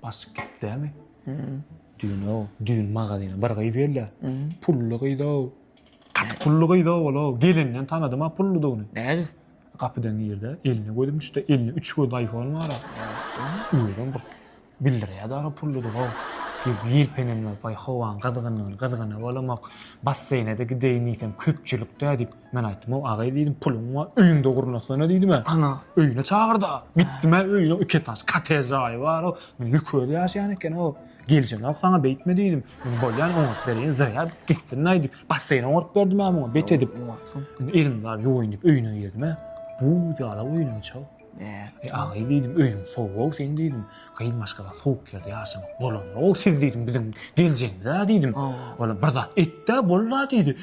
Basyp gitdämi? Düýn-ow, düýn magazyna bir gyz geldi. Pully gyz-ow. Gaty pully gyz-ow ol-ow. Gelinden tanadym-a pulludygyny. Nädip? Gapydan girdi, eline gözüm düşdi. Elinde üç gözli aýfon bar-a. Özem bir bildirýär-dä-ol pulludygy-ow. Diýip ýelpenemläp, aý, howanyň gyzgynlygyny gyzgana bolamok. Basseýne-de gideýin diýsem, köpçülik-dä diýip, Men aýtdym-ow, agaý diýdim, puluň bar, öýüňde gurnasana diýdim-ä. Ana, öýüne çagyrd-a. Gitdim-ä öýüne, iki etaž kottej jaýy bar-ow. Lük özi ýaşaýan eken-ow. Geljemok saňa beýtme diýdim. Indi bolýan oňaryp berýän, zyrýa gitsin-aý diýip, basseýn oňaryp berdim-ä muňa bet edip. Oňarypsyň. Indi elimi bar, ýuwaýyn diýip öýüne girdim-ä. Buz ýaly-ow öýüniň içi-ow. Bäh-de, agy diýdim, öýüň sowug-ow seň diýdim. Gyz maşgala sowuk ýerde ýaşamak bolanok-ow siz diýdim, biziň geljegimiz-ä diýdim. Olam bir zat et-dä bol-la diýdi.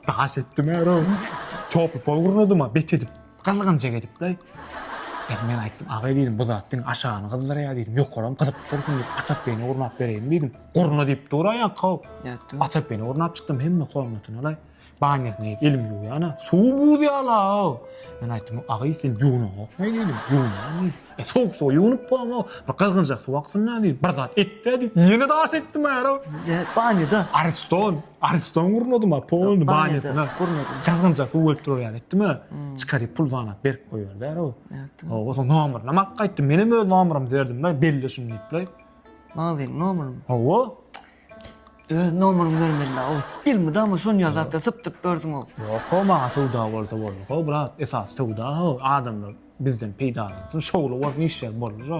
Daş etdim äroo. Çopy-pol gurnadym-a bet edip, gyzgynjak edip-le. Ýa men aýtdym, agy diýdim, bu zat diňe aşagyny gyzdyrýar diýdim, ýokaram gyzyp dursun diýip, Atapbegine gurnap bereýin diýdim. Gurna diýip dur-a ýaňky-ow. Atapbegine gurnap çykdym, hemme komnatyna-laý. Banýasyny diýip elimi ýuwýan, ana, suw buz ýala-ow. Men aýtdym, Agy, sen ýuwnaňokmy diýdim. Ýuwnan diýdi. E, sowuk suwa ýuwnup bolamok. Bir gyzgynjak suw aksyn-da diýdim. Bir zat et-dä diýdi. Ýene daş etdim ara. Ýa, banýada. Ariston, ariston gurnadyma, polny banýasyna. Gurnadyň. Gyzgynja suw gelip durar ýaly etdim-ä. Çykar diýip pul zanap berip goýberdi ara o. Nätdiň? Hawa, soň nomerini hem alyp gaýtdym. Men hem öz nomerimi berdim-le, belle şuny diýip-le. Magaziniň nomerini? Hawa. Öz nomeryňy bermelidä Oguz. Elmydama şony ýazatda sypdyryp ýörsüňow. Ýok how maňa söwda bolsa boldy how brat esas söwda how adamlar bizden peýdalansyn şowly bolsun işler boldy şo.